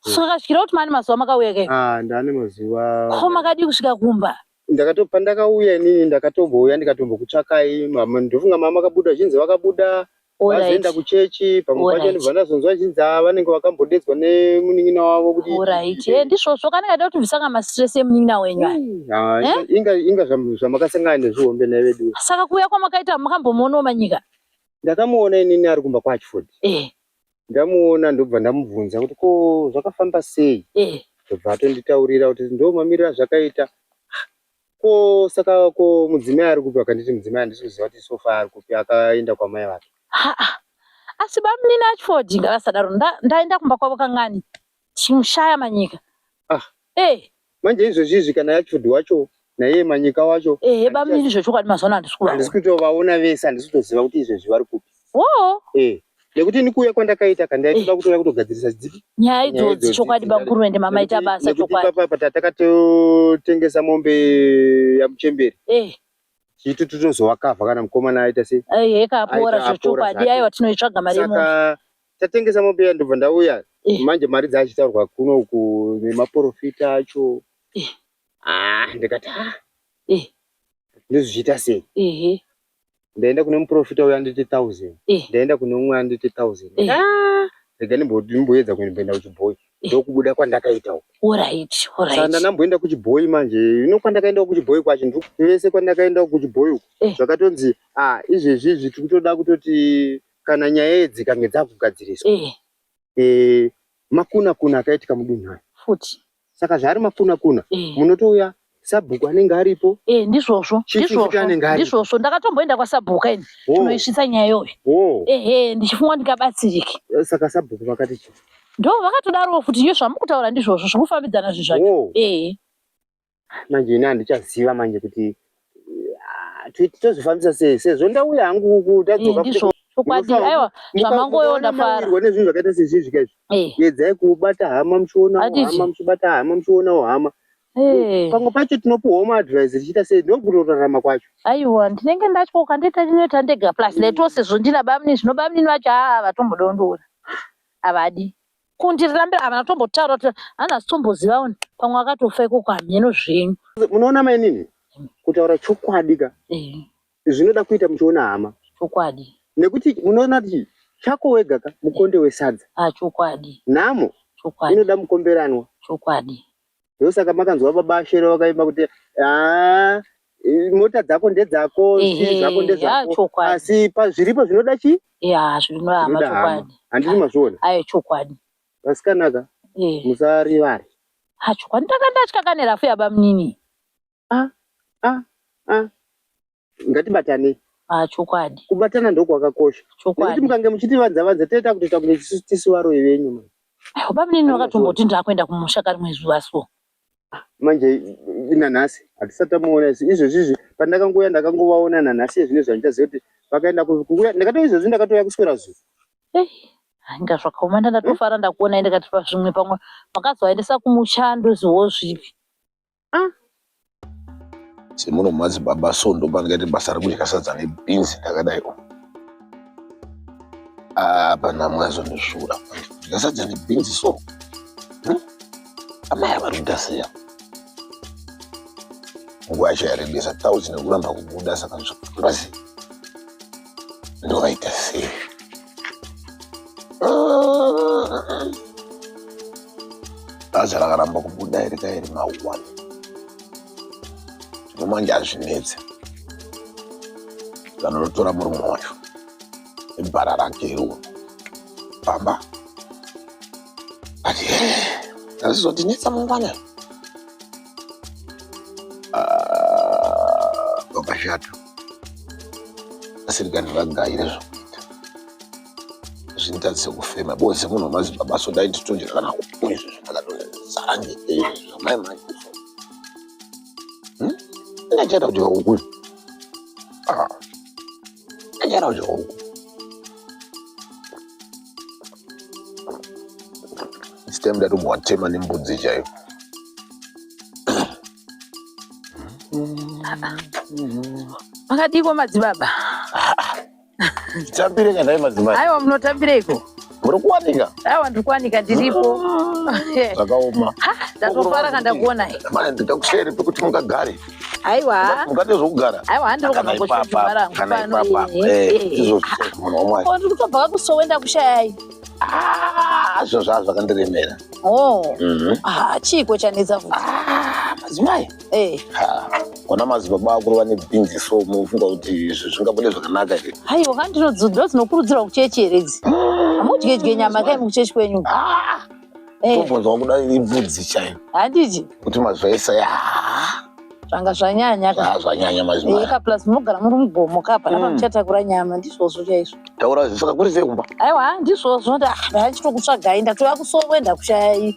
Saka svikira kuti mani mazuva makauya ke. Ah, ndane mazuva. Ko makadii kusvika kumba? Ndakato pandakauya inini ndakatombouya ndikatombokutsvakai mama ndofunga mama vakabuda zhinzi vakabuda vazoenda kuchechi pamwe pacho ndibva ndazonzwa zhinzi ava ah, vanenge vakambodedzwa nemunin'ina wavo kuti right eh, ndizvozvo kana kaida kuti ndisanga mastress emunin'ina wenyu hmm, ah, eh? inga inga zvamakasangana nezvihombe naye vedu saka kuuya kwamakaita makambomuonawo manyika ndakamuona inini ari kumba kwaachford eh ndamuona ndobva ndamubvunza kuti ko zvakafamba sei eh. ndobva atonditaurira kuti ndo mamiriro azvakaita ah, ko saka ko mudzimai ari kupi akanditi mudzimai handisi kuziva kuti sofa ari kupi akaenda kwamai vake asi bamunini achford ngavasadaro ndaenda kumba kwavo kangani Chimushaya manyika. Ah. Eh. Manje izvozvi izvi kana yacho wacho naiye manyika wacho. Eh, baba mimi zvochokwadi mazuva andisi kuvaona. Andisi kutovaona vese andisi kutoziva kuti izvezvi vari kupi. Oh. Eh. Nekuti ini kuuya kwandakaita kandaitoda eh. kutouya kutogadzirisa dziki. Nyaya idzodzi chokwadi bamukuru ende mama ita basa chokwadi. Nekuti papa patakatotengesa mombe yamuchemberi. Eh. Chitu tinozoakavha kana mukomana aita sei. Eh, heka apora zvochokwadi aiwa tinoitsvaga mari yemoto. Saka tatengesa mombe iya ndobva ndauya Eh. manje mari dzachitaurwa kuno uku nemaporofita acho Eh. ah ndikati ah Eh. ndozvichiita sei ehe ndaenda kune muporofita uya anditi thousand Eh. ndaenda kune umwe anditi thousand Eh. Ah, rega ndimbo- ndimboedza kuenda kuchibhoyi ndokubuda kwandakaita uku orit saka orit ndanamboenda kuchibhoyi manje ino kwandakaenda kuchibhoyi kwacho ndiko vese kwandakaenda kuchibhoyi uku Eh. zvakatonzi ah izvezvi izvi tiri kutoda kutoti kana nyaya idzi kange dzakugadziriswa eh. eh, makuna kuna akaitika mudunhu aya futi saka zvaari makuna kuna eh. munotouya sabhuku anenge aripo eh, ndizvozvo ndizvozvo ndakatomboenda kwasabhuka ini oh. tinoisvitsa nyaya iyoyo oh. ehe ndichifunga ndikabatsirike eh, saka sabhuku vakati chii ndo vakatodarowo kuti iyo zvamukutaura ndizvozvo zvokufambidzana zvezvacho oh. ehe manje ini handichaziva manje kuti eh, tozvifambisa sei sezvo ndauya hangu uku tadzoka chokwadi aiwa zvamangoyo ndafara nezvinhu zvakaita sezvizvika izvi eh. yedzai kubata hama muchiona hama muchibata hama muchionawo hama eh. pamwe pacho tinopiwawo maadvise tichiita sei ndokurorarama kwacho aiwa ndinenge ndatyoka ndoita ndinoita ndega plus mm. netose zvondina bamnini zvino bamnini vacho haa vatombodondora havadi kundirambira havana kutombotaura kuti hana asitombozivawo pamwe akatofa ikoko hameno zvenyu munoona mainini kutaura chokwadi ka eh. zvinoda kuita muchiona hama chokwadi nekuti munoona kuti chako wega ka mukonde wesadza ah, chokwadi nhamo chokwadi inoda mukomberanwa chokwadi ndosaka makanzwa baba ashere vakaimba kuti haa mota dzako ndedzako zii zvako ndezvako asi pazviripo zvinoda chii ya zvinohama chokwadi handiti mazviona ayo chokwadi vasikanaka musarivare ha chokwadi ndakandatya kanerafu yabamunini a a a ngatibatane ah, chokwadi kubatana ndokwakakosha chokwadi mukange muchitivanza vanza toita kutoita kunge tisu varoyi venyu mani baba mnini vakatomboti ndakuenda kumusha kari mwezi vaso ah, manje nanhasi hatisati tamuona isu izvozvi izvi pandakangouya ndakangovaona nanhasi ezvine zvandichaziva kuti vakaenda kuuya ndakatouya izvozvi ndakatouya kuswera zuva eh, inga zvakaoma ndandatofara ndakuona ndikati pazvimwe pamwe makazovaendesa kumucha ndozivawo zvipi ah. semuno madzibaba so ndopangaite basa rekudya sadza nebhinzi ndakadai apana ah, mwazo neshura kudya sadza nebhinzi so hm? amai vari kuita seya nguva yacho yarebesa tauti nekuramba kubuda saka zvakurasi ndovaita sei bhazi rakaramba kubuda iri kairi maone zvino manje hazvinetse vanonotora murume wacho nebhara rake iriwo pamba ati azizotinetsa mangwana Ah, vakashata asirikani vagaire zvokuita zvinoita sekufema bozi munhu unozi baba so dai titonjera kana kupo izvi zvakatozara ngei zvamai mai ndachata kuti vakukuzi Anyara uyo hongu. This time ndati mwatema nembudzi chaiyo. Makadiko madzibaba. Tambire kana madzimai. Aiwa munotambireiko? muri kuwanika awa ndiri kuwanika ndiripo zvakaoma ndatofara kandakuona ndikakushaire pekuti mungagare aiwa mukati zvokugara aiwa handirokanaipapakanaipapaaizvozvmunhu wamwari ndiri kutobva kakusowe ndakushayai zvo zvaa zvakandiremera chiiko chanetsa futi madzimai Eh. Ha, kona madzibaba akuru vane bhinzi so munofunga kuti izvi zvingabude zvakanaka here Haiwa kani ndinodzidza dzinokurudzirwa kuchechi here idzi. Hamudye dye nyama kai mukuchechi kwenyu. Eh, tobvunzwa kuda ibvudzi chayo handiti kuti mazvaisa ya zvanga zvanyanya ka. zvanyanya Eh, mazimai ka plus munogara muri mugomo ka pana Mm. pamuchatakura nyama ndizvozvo chaizvo. taura zvisaka kuri sei kumba Aiwa ndizvozvo nda ndachitokutsvagai ndatouya kusowe ndakushayai.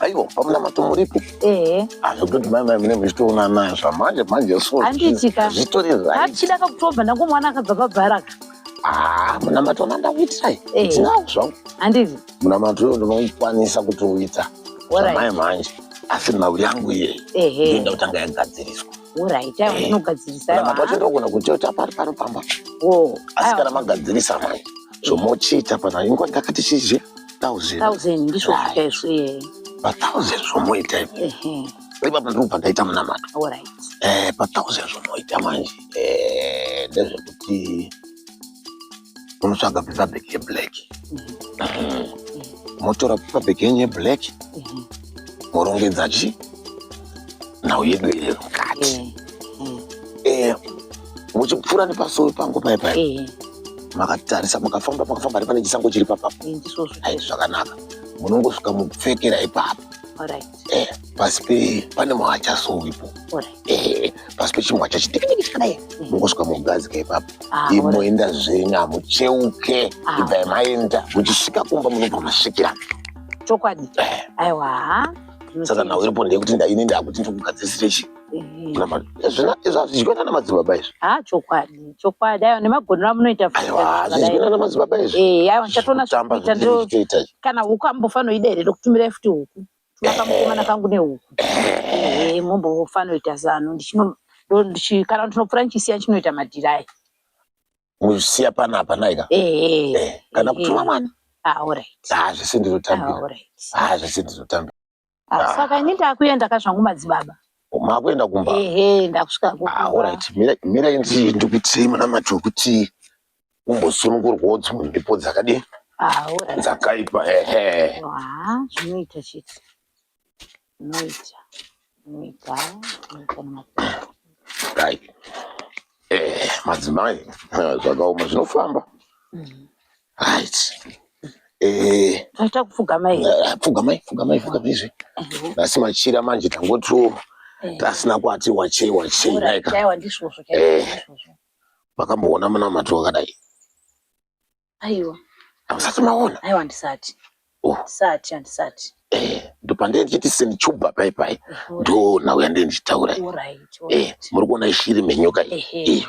aiwa pamunamato muripo ehe azvikuti mai mai mune muchitoona nayo zvamanje manje so Handiitika. zvitori right hatichida kakutobva ndangu mwana akabva pabharaka ah munamato wanga ndakuitirai Eh. ndinawo zvangu handizi munamato uyo ndinokwanisa kutouita Alright. zvamai manje asi nhau yangu iye ehe ndoenda kutanga yagadziriswa Alright, ayo Eh. unogadzirisa Kana ayo. makacho Ah, ndogona kuchota pari pano pamba oh, asi ayo. kana magadzirisa manje zvomochiita pana ingwa ndakati chizhe thousand Thousand ndizvo Right. zvika izvo eh. pathousand zvomoita ipo Ehe. ipapo ndipo pandaita munamato Alright. Eh, pathousand zvomoita manje Eh, ndezvekuti unotsvaga paper bag yeblack motora paper bag yenyu yeblack morongedza chi nhau yedu iri mukati Eh, muchipfuura nepasowe pangu paye paye Eh, makatarisa makafamba makafamba ari pane chisango chiri papapo ndisvozvo. hai zvakanaka munongosvika mupfekera ipapo Alright. eh, pasi pe pane mwacha sowipo eh, pasi pechimwacha chidikidiki chakadai mm. mongosvika mogadzika ipapo ah, imoenda zvenyu hamucheuke ah. ibvai maenda muchisvika kumba munobva masvikira chokwadi eh. aiwa saka nhau iripo ndeyekuti ndaine ndakuti ndikugadzisire chii zvizvinana madzibaba izvi ha chokwadi chokwadi ayo nemagonero amunoita zvizvinana madzibaba izvikana huku ambofanira ida here ndokutumirai futi huku akamukomana kangu nehuku mombofanoita zano kana ndinopfura ndichisiya chinoita madhirai muchisiya panapa naika kana kutuma mwana hazvisi ndinotambira hazvisi ndinotambira Ah, saka ini ndakuenda ka zvangu madzibaba makuenda kumba ehe ndakusvika ku ah alright mira mira inzi ndikuti mwana macho kuti umbosunungurwawo dzimwe mhepo dzakadii ah alright dzakaipa ehe ah zvinoita shit zvinoita zvinoita zvinoita nemapepa right eh madzimai eh, zvakaoma zvinofamba Right. Eh, Aita kupfugama here? eh, pfugamai, pfugamai, pfugamai izvi. Nhasi machira manje tangotiwo Eh, tasina kwati wachei wachei ora, naika. chaiwa ndizvozvo, chaiwa Eh. ndizvozvo. Makamboona munamato wakadai. Aiwa, Hamusati maona. aiwa ndisati. Oh. Ndisati, handisati. Eh, ndopandee ndichiti senichubva pai pai. Ora, Ndoo nhau yandee ndichitaura. iyi. ora, iti, ora, Eh, iti. muri kuona ishiri menyoka iyi. Ehe. Iyo.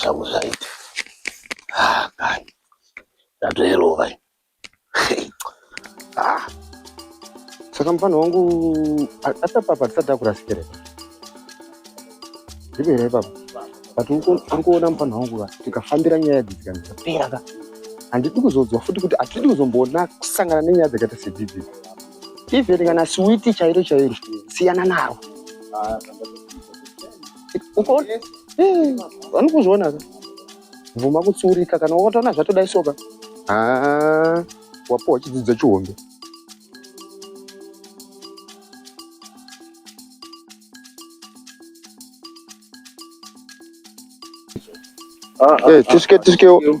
zvangu zvaita kai ndatoerova saka mufana wangu atapapa tisati akurasikireka ndiko here papa but uri kuona mufana wangu va tikafambira nyaya idzi dzikani dzapera ka handidi kuzodzwa futi kuti hatidi kuzomboona kusangana nenyaya dzakaita sedzidzi even kana siwiti chairo chairo siyana naro vanokuzviona ka bvuma kutsiurika kana wakatoona zvatodai soka wapowa chidzidzo chihombe ah, ah, eh, tisike ah, tisikewo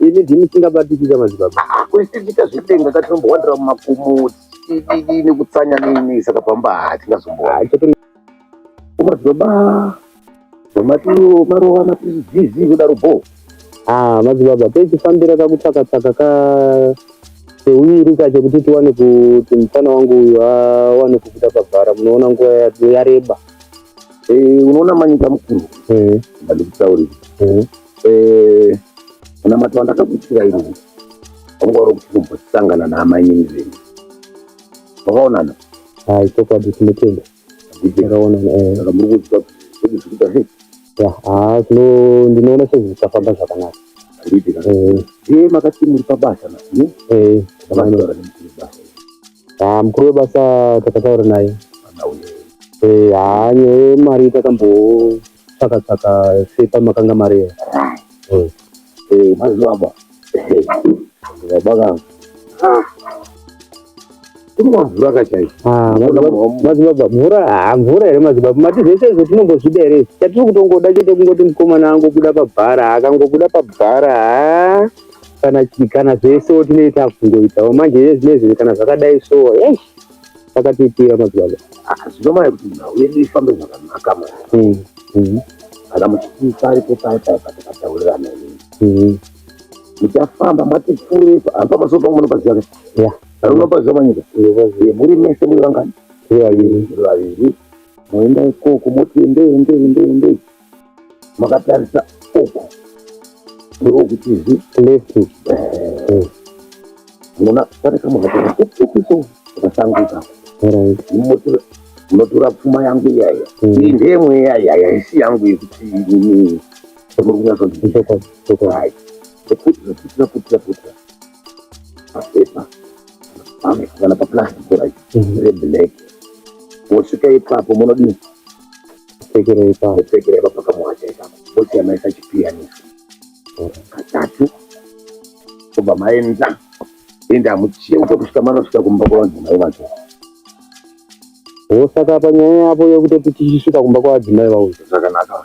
ini ndini singabatikika madzibaba ah, kuisitika zvitenga katinombowandira mumakomo nekutsanya nini saka pamba hatingazombowaa madzibaba matio marova matizizi kudaro bho ah, madzibaba toitifambira kakutsakatsaka ka seuviri ka chekuti tiwane kuti mufana wangu uyu awane kubuda pabhara munoona nguva yareba Eh, unoona manyika mukuru eh. ndandikutaurira eh. unamata wandakakuitira iri wanga uri kuti kumbosangana naamainini venyu vakaonana hai chokwadi tinotenda akaonana muri kuziva kuti zvikuita sei haa zvino ndinoona sezvisafamba zvakanaka ndiitika makati muri pabasa na Ah, mukuru webasa takataura naye Eh, haa nyaya yemari takambotsvaka tsvaka sepa makanga mari iyo. Eh, Eh, mazivaba. Ndabaka. Kuri mavhura kachaiko. ah, madzibaba- madzibaba mvura haa mvura here madzibaba mati zvese izvo tinombozvida here chatiri kutongoda chete kungoti mukomana angobuda pabhara akangobuda pabhara haa kana chi kana zvese wotinei takungoitawo manje yezvinezvi kana zvakadai so yes takatoitira madzibaba ah, zvinomaya kuti nhau yedu ifambe zvakanaka mwana mm, mm. kana muchitiisa aripo paye paye patakataurirana ini mm. muchafamba mwatipfurepa hapa masopa munopaziva ka anonopaziva manyika eh, muri mese muri vangani muri vaviri moenda ikoko moti endei endei endei endei makatarisa uku ndiwo kutizi left mona pane kamuhata ukuso akasanguka unotora pfuma yangu iyaya iyi ndeye mweya iyaya haisi yangu yekuti ini muri kunyatsondiaa ekuti zvaputira putira putira papepa kana paplastic rai reblack wosvika ipapo munodii kupfekerei pa kupfekera ipapo kamuwacha ipapo vosiyanaisa chipiyanisi katatu obva maenda ende hamucheuke kusvika manosvika kumba kwavadzimai vacho wosaka panyaya yavo yekutoti tichisvika kumba kwavadzimai vavo zvakanaka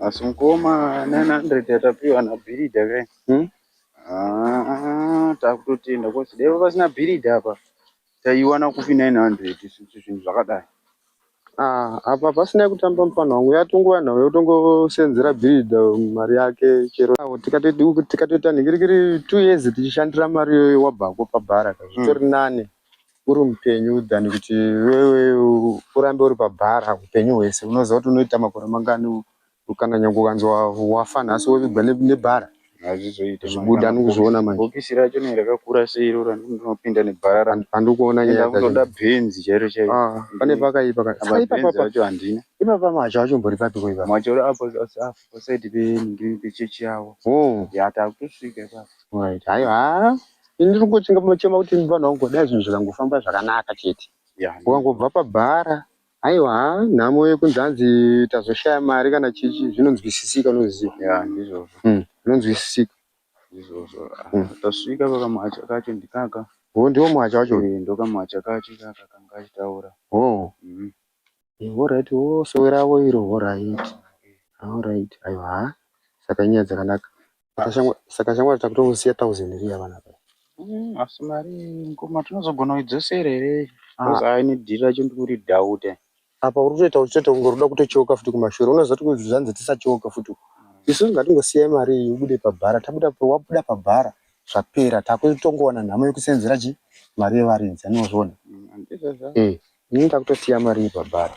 asi mukoma 900 yatapiwa nabhiridha kai hmm? ah, takutotenda kosi dai pasina bhiridha apa taiwana kupi 900 isusu zvinhu zvakadai Ah, apa pasina kutamba mfana wangu yatongova nhau yotongosenzera bhiridha mari yake chero awo tikatoita tikatoita nhikirikiri two years tichishandira mari iyoyo wabvako pabhara ka zvitori nane uri mupenyu than kuti wewe urambe uri pabhara upenyu hwese unoziva kuti unoita makore mangani Kana nyange ukanzwa wafa nhasi wovigwa nebhara hazvizoite zvibuda anokuzviona manje bhokisi racho nei rakakura seiro randinopinda nebhara rangu handiri kuona nyaya ndakutoda bhenzi chairo chairo ah, pane pakaipa kacho handina ipapa macho acho mbori papi ko ipapa macho apo afu pasaidi pechechi yavo oh. ya takutosvika ipapa right hayo ha ndiri kungochinga machema kuti vanhu vangu dai zvinhu zvikangofamba zvakanaka chete ukangobva pabhara Haiwa nhamo yekunzi hanzi tazoshaya mari kana chichi zvinonzwisisika unoziva. Yeah ndizvozvo. Mm. Zvinonzwisisika. Ndizvozvo. Mm. Tasvika pakamwacha kacho ndikaka. Oh ndiwo mwacha wacho. Eh ndokamwacha kacho kaka kanga achitaura. Oh. Mm. Eh, all right wo oh, sowe ravo iro all right. All right. Aiwa. Saka inyaya dzakanaka. saka shamwari takutongosiya thousand riya vana pa mm, asi mari ngoma tinozogona kuidzosera here bcause ah. aine dhiri racho ndikuri dhaute apa uri kutoita uchitoita kunge ruda kutotyoka futi kumashure unozoti kuzvanzi tisatyoka futi mm. isu ngatingosiyai mari iyi ubude pabhara tabuda wabuda pabhara zvapera takutongowana nhamo yekuseenzera chi mari yevaridzi anozviona mm, eh, ini takutosiya mari iyi pabhara